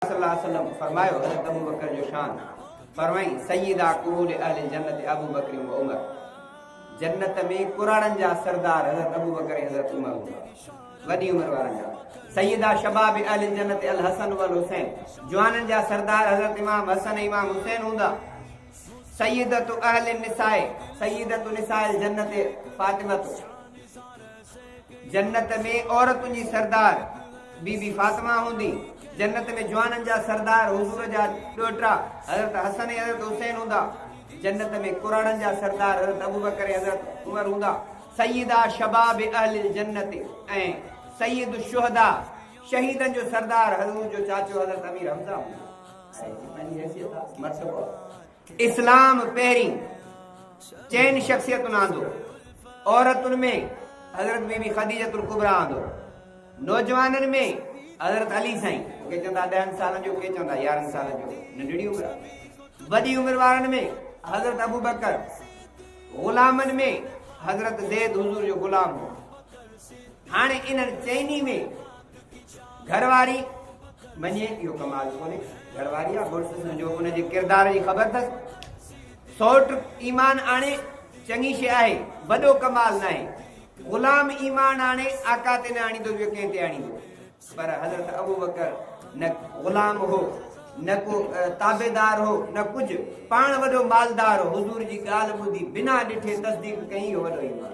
صلّي اللّٰه عليه وسلّم فرمايو، حضرت ابوبڪر جو شان، فرمائين، سيدا ڪهول اهل الجنّة ابوبڪر و عمر، جنّت ۾ ڪراڙن جا سردار حضرت ابوبڪر ۽ حضرت عمر هوندا، وڏي عمر وارن جا، سيدا شباب اهل الجنّة الحسن و الحسين، جوانن جا سردار حضرت امام حسن ۽ امام حسين هوندا، سيدة اهل النّساء، سيدة نساء الجنّة فاطمة. جنت ۾ عورتن جي سردار بي بي فاطمه هوندي، جنت ۾ جوانن جا سردار حضور جا ڏوهٽا حضرت حسن ۽ حضرت حسين هوندا، جنت ۾ ڪراڙن جا سردار حضرت ابوبڪر ۽ حضرت عمر هوندا، سيدا شباب اهل الجنت ۽ سيد الشهداء شهيدن جو سردار حضور جو چاچو حضرت امير حمزه هوندو ۽ جتنا جي حيثيت آ مرتبو آ. اسلام پهرين چئن شخصيتن آندو، عورتن ۾ حضرت بي بي خديجة الڪبريٰ آندو، نوجوانن ۾ حضرت علي سائين، ڪي چوندا ڏهن سالن جو ڪي چوندا يارهن سالن جو، ننڍڙي عمر آ، وڏي عمر وارن ۾ حضرت ابوبڪر، غلامن ۾ حضرت زيد حضور جو غلام هو، هاڻي انهن چئني ۾. گهر واري مڃي اهو ڪمال ڪونهي گهر واري آ مڙس سمجهو ان جي ڪردار جي خبر اٿس سوٽ ايمان آڻي چڱي شي آهي وڏو ڪمال ناهي غلام ايمان آڻي آقا تي نه آڻيندو ٻيو ڪنهن تي آڻيندو پر حضرت ابو بڪر نه غلام هو نه ڪو تابعدار هو نه ڪجهه پاڻ وڏو مالدار هو حضور جي ڳالهه ٻڌي بنا ڏٺي تصديق ڪئي هو وڏو ايمان